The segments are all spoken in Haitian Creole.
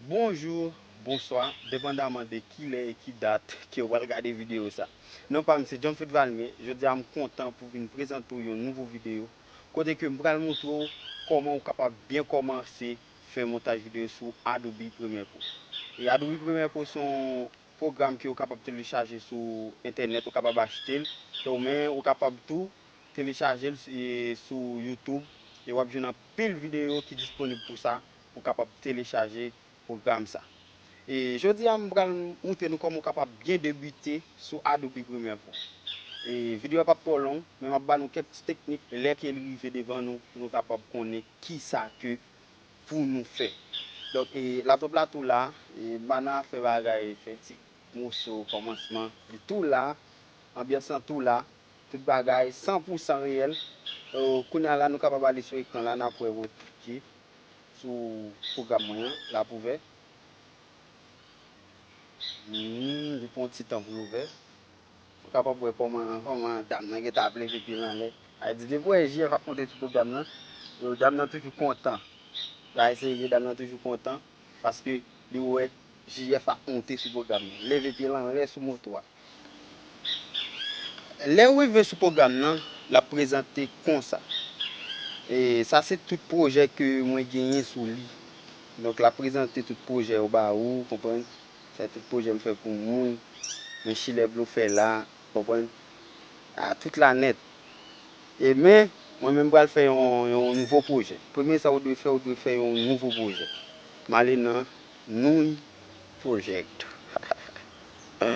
Bonjour, bonswa, depandaman de kilè e ki dat kew pral gade video sa. Non pam se John Fritz Valmé, jodia m kontan pou vin prezante w yon nouvo video kote ke m pral montre w kòman ou kapab byen kòmanse fè montaj video sou Adobe Premiere Pro. E Adobe Premiere Pro son pwogram ke ou kapab telechaje sou entènèt, ou kapab achte l, donk men ou kapab tou telechaje l sou youtube e wap jwenn anpil videyo ki disponib pou sa, pou kapab telechaje pwogram sa. E jodi a m pral moutre nou kòman ou kapab byen debite sou Adobe Premiere Pro. E videyo a pap twò long, men map ba nou kèk ti teknik lè ke li rive devan nou pou nou kapab konnen kisa ke pou nou fè. Donk la top la tou la, mana fè bagay fè ti moso kòmansman li tou la, anbyans lan tou la, tout bagay san pou san reyèl. Kounya la nou kapab ale sou ekran la nap wè wot ki sou pwogram mwen an, lap ouvè. Li pran yon ti tan pou l ouvè. Ou kapab wè kòman kòman dam nan gentan ap leve pye l anlè. Sa vle di depi w wè JF ap monte sou do dam nan, do dam nan toujou kontan. Bagay serye, dam nan toujou kontan paske li wè JF ap monte sou pwogram nan. Leve pye l anlè sou moto a. Lè w rive sou pwogram nan, l ap prezante konsa. E sa se tout pwojè ke mwen genyen sou li. Donk l ap prezante tout pwojè yo ba ou, konprann. Fè tout pwojè m fè pou moun men chilè blofè la konprann ah tout la nèt e men mwen menm pral fè yon nouvo pwojè. Premye sa ou dwe fè ou dwe fè yon nouvo pwojè m ale nan nouny project hahaha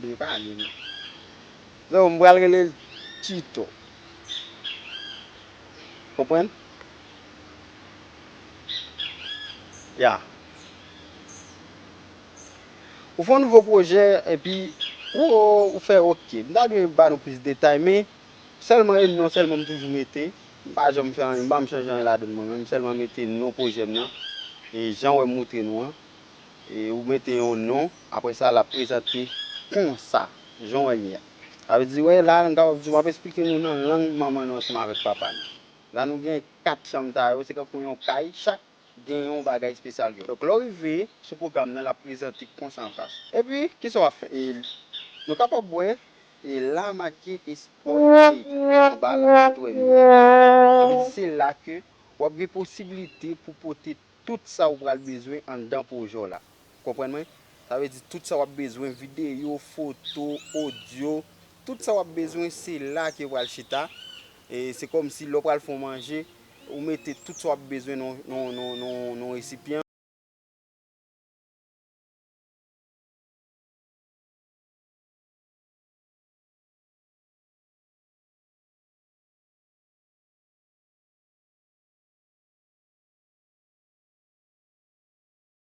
byen pale non so m pral rele l tuto konprann yeah. Ou fon nouvo pwojè epi ou fè ok. M ta dwe ba nou plis detay men sèlman e non sèlman m toujou mete. M pa janm fè anyen, m pa janm chanje anyen ladan mwen menm. M sèlman mete non pwojè m nan. E jan wè m moutre nou an. E ou mete yon non, apre sa l ap prezante konsa, jan w wè li a. Sa vle di wè la m kapab di w m ap esplike nou nan lang manman nou ansanm avèk papa nou. La nou gen 4 chanm sa yo, se tankou yon kay, chak gen yon bagay espesyal yo. Donk lè w rive sou pwogram nan l ap prezante konsa an fas. Epi kisa w ap fè? Nou kapab wè la make Espò Trade anba l sou wèb yo a. Epi se la ke w ap gen posibilite pou pote tout sa ou pral bezwen anndan pwojè w la. Ou konprann mwen? Sa vle di tout sa wap bezwen, videyo, foto, odyo, tout sa wap bezwen se la ke yo pral chita. E se kòm si lè w pral fè yon manje, ou mete tout sa wap bezwen nan yon resipyan.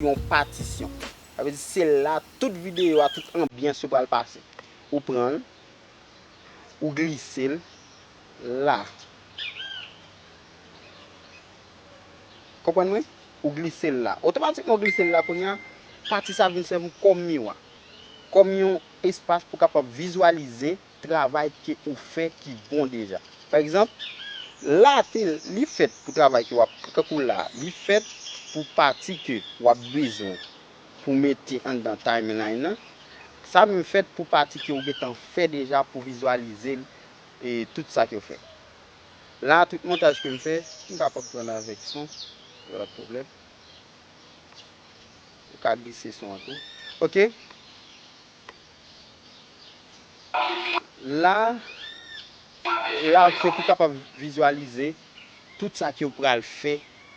yon patisyon. Sa vle di se la tout videyo a, tout anbyans yo pral pase. Ou pran l, ou glise l la. Konprann mwen? Ou glise l la. Otomatikman ou glise l la kounya pati sa vin sèvi w kòm miwa. Kòm yon espas pou kapab vizualize travay ke ou fè ki bon deja. Pa egzanp, la te, li fèt pou travay ke wap, tankou la, li fèt pou pati ke wap bezwen pou mete anndan timeline nan, sa menm fèt pou pati ke ou gentan fè deja pou vizualize l e tout sa ke ou fè. La tout montaj kem fè, m kapab pran l avèk son, pa gen pwoblèm. M ka glise son an tou. Ok. La, la ou fè pou kapab vizualize tout sa ke ou pral fè,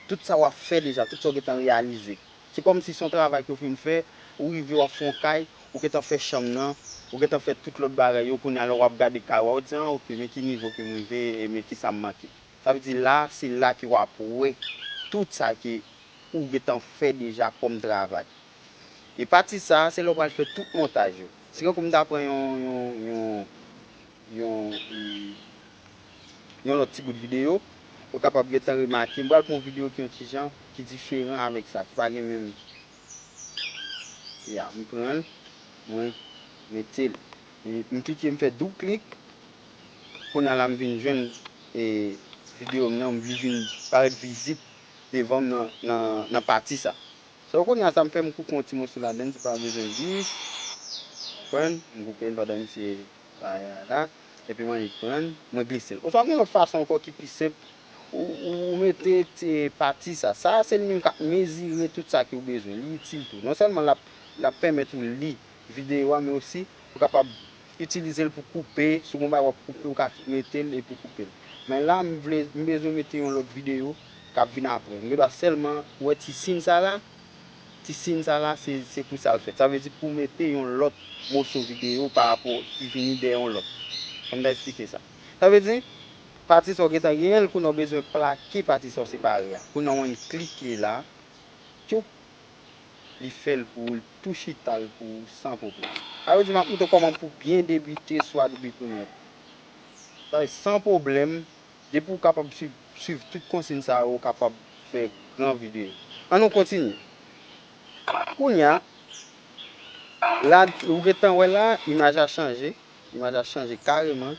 tout sa wap fè deja, tout sa ou gentan reyalize. Se kòm si son travay ke ou fin fè, ou rive wap fè yon kay, ou gentan fè chanm nan, ou gentan fè tout lòt bagay yo, kounye a lè wap gade kay ou a ou di an ok men ki nivo kem rive e men kisa m manke. Sa vle di la, se la ke wap wè tout sa ke ou gentan fè deja kòm travay. E pati sa a se lè ou pral fè tout montaj yo. Se kankou m ta pran yon yon yon lòt ti bout videyo, ou kapab gentan remake m pral pran yon videyo ki yon ti jan ki diferan avèk sa, ki pa gen menm Ya, m pran l, mwen mete l. M klike m fè doub klik, kounye a la m vin jwenn e videyo m nan, li vin parèt vizib devan m nan pati sa a. So kounye a sa m fè m koupe yon ti moso ladann se pa bezwen di konprann m koupe l pandan misye bay a la epi mwen annik pran l mwen glise l oswa gen lòt fason ankò ki pi senp ou mete ti pati sa sa a se li menm k ap mezire tout sa ki ou bezwen li itil tou non sèlman l ap pèmèt ou li videyo a men osi ou kapab itilizel pou koupe si w gen yon bagay wap koupe ou ka metel epi koupel men la m vle m bezwen mete yon lòt videyo kap vin aprè m gen dwa sèlman wè ti sin sa la ti sin sa la se pou sa l fèt sa vle di pou mete yon lòt moso videyo pa rapò ki vini dèyè yon lòt fò m ta esplike sa sa vle di pati sa w gentan genyen l kounye a w bezwen plake pati sa w separe a kounye a w enn klike la tchoup. Li fèl pou oul tou chital pou ou san problèm. A yo di map montre w koman pou byen debite sou Adobe Premiere Pro. Sa vle san problèm, depi ou kapab swiv tout konsign sa yo ou kapab fè gran video. An nou kontinye. Kounya la ou gentan wè la imaj la chanje, imaj la chanje kareman.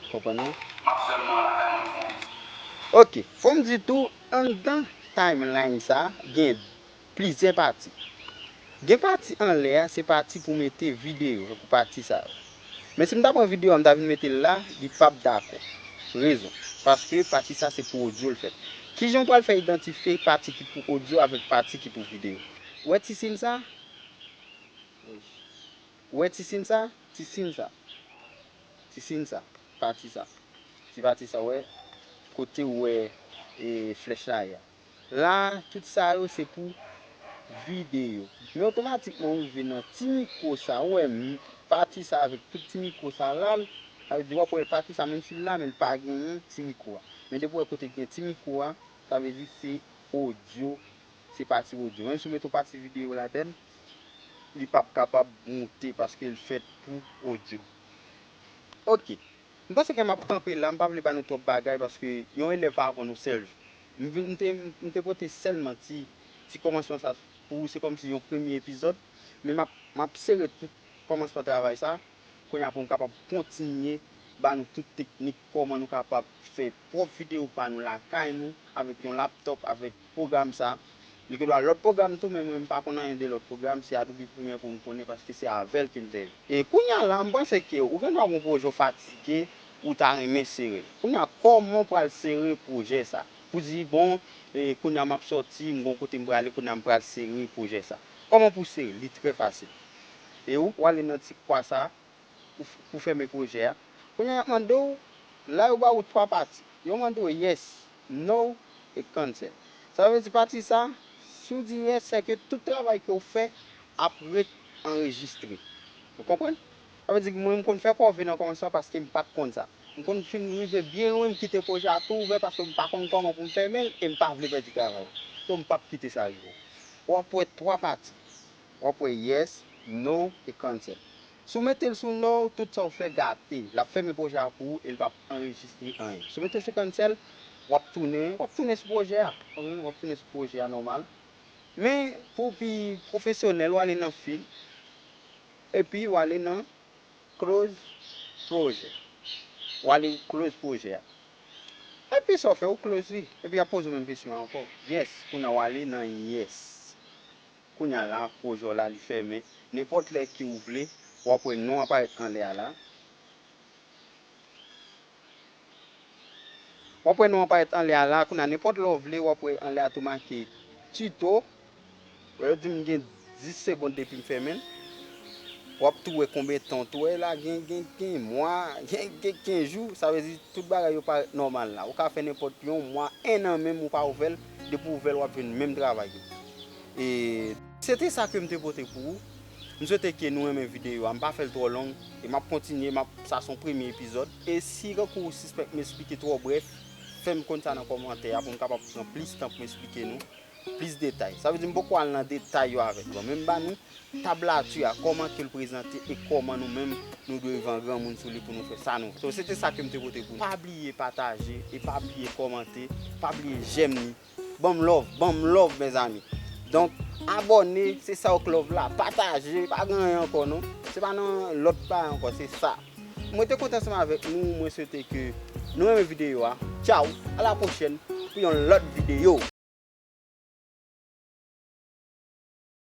Konprann non? Ok, fòm di tou Anndan timeline sa gen plizyè pati. Gen pati anlè a se pati pou mete videyo se pou pati sa yo. Men si m ta pran videyo a m ta vin mete l la li pap dakò. Rezon, paske pati sa se pou odyo l fèt. Kijan w pral fè idantifye pati ki pou odyo avèk pati ki pou videyo? Ou wè ti sin sa? Ou wè ti sin sa? Ti sin sa. Ti sin sa, pati sa, ti pati sa wè kotew wè flèch la ye a la tout sa yo se pou vide yo men otomatikman ou rive nan ti mikwo sa ou wè pati sa avèk tout ti mikwo sa lal sa vle di wap wè pati sa menm sil la menl pa genyen ti mikwo a men depi ou wè kote gen ti mikwo a sa vle di se odyo Se pati audio. Menm si w met yon pati video ladann, li pap kapab moute paske l fèt pou audio. Ok. M panse ke m ap kanpe la, m pa vle ba nou twòp bagay paske yon elèv pa aprann yon sèl jou. M vin, m te, m te pote sèlman ti, ti kòmansman sa pou ou, se kòmsi yon premye epizòd. Men m ap, m ap sere tout kòmansman travay sa. Kounya pou nou kapab kontinye ba nou tout teknik kòman nou kapab fè pwòp video pa nou lakay nou avèk yon laptop avèk pwogram sa li gen dwa lòt pwogram tou men mwen m pa konn anyen de lòt pwogram se Adobe Premiere Pro m konnen paske se avèl kem te e kounya la m panse ke ou gen dwa gon pwojè w fatige ou ta renmen sere kounya kòman w pral sere pwojè sa pou di bon e kounya map sòti m gon kote m prale kounya m pral sere pwojè sa kòman pou w sere li trè fasil E ou pwale nan ti kwa sa pou fèmen pwojè a. Kounye a y ap mande w, la yo ba ou 3 pati. Yo mande w yes, no e cancel. Sa vle di pati sa, si w di yes se ke tout travay ke w fè ap ret anrejistre. Ou konprann? Sa vle di mwen m konn fè kòve nan kòmansman paske m pa t konn sa. M konn fin rive byen lwen m kite pwojè a tou ouvè paske m pa konn kòman pou m fèmen l e m pa vle pèdi travay. So m p ap kite sa rive. Ou ap wè 3 pati. W ap wè Yes, No e Cancel. Si w mete l sou No, tout sa w fè gate. L ap fèmen pwojè a pou ou e l pap anrejistre anyen. Si w mete l sou Cancel, w ap tounen, w ap tounen sou pwojè a. Konprann? W ap tounen sou pwojè a nòmal. Men, pou w pi pwofesyonèl, w ale nan Fil, epi w ale nan Close Project. W ale close pwojè a. Epi sa w fè, ou close li. Epi y ap poze w menm kesyon an ankò. Yes, kounye a w ale nan Yes. Kounya la pwojè w la li fèmen. Nenpòt lè ke ou vle, w ap wè non an parèt anlè a la. W ap wè non an parèt anlè a la. Kounya nenpòt lè w vle, w ap wè anlè a tou make Tuto. Wè yo di m gen 10 segond depi m fèmen l. W ap tou wè konben tan w tou wè la. Gen gen mwa, gen gen jou. Sa vle di tout bagay yo parèt nòmal la. Ou ka fè nenpòt yon mwa, ennan menm ou pa ouvè l. Depi ou vèl wap jwenn menm travay yo. E. Se te sa kem te pote pou ou. M swete ke nou renmen videyo a. M pa fèl twò long. E map kontinye, map, sa son premye epizòd. E si kankou ou sispèk m esplike twò brèf, fèm konn sa nan kòmantè a pou m kapab pran plis tan pou m esplike nou plis detay. Sa vle di m poko al nan detay yo avèk nou. Men m ba nou Tablati a, kòman ke l prezante e kòman nou menm nou dwe van granmoun sou li pou nou fè sa nou. So se te sa ke m te pote pou nou. Pa bliye pataje e pa bliye kòmante, pa bliye jèm li. Banm love, banm love mezanmi. Donk abòne, se sa ok love la. Pataje, pa gen anyen ankò non. Se pa nan lòt bagay ankò, se sa. Mwen te kontan ansanm avèk nou, mwen swete ke nou renmen videyo a. Tchaw, a la pwochèn pou yon lòt videyo.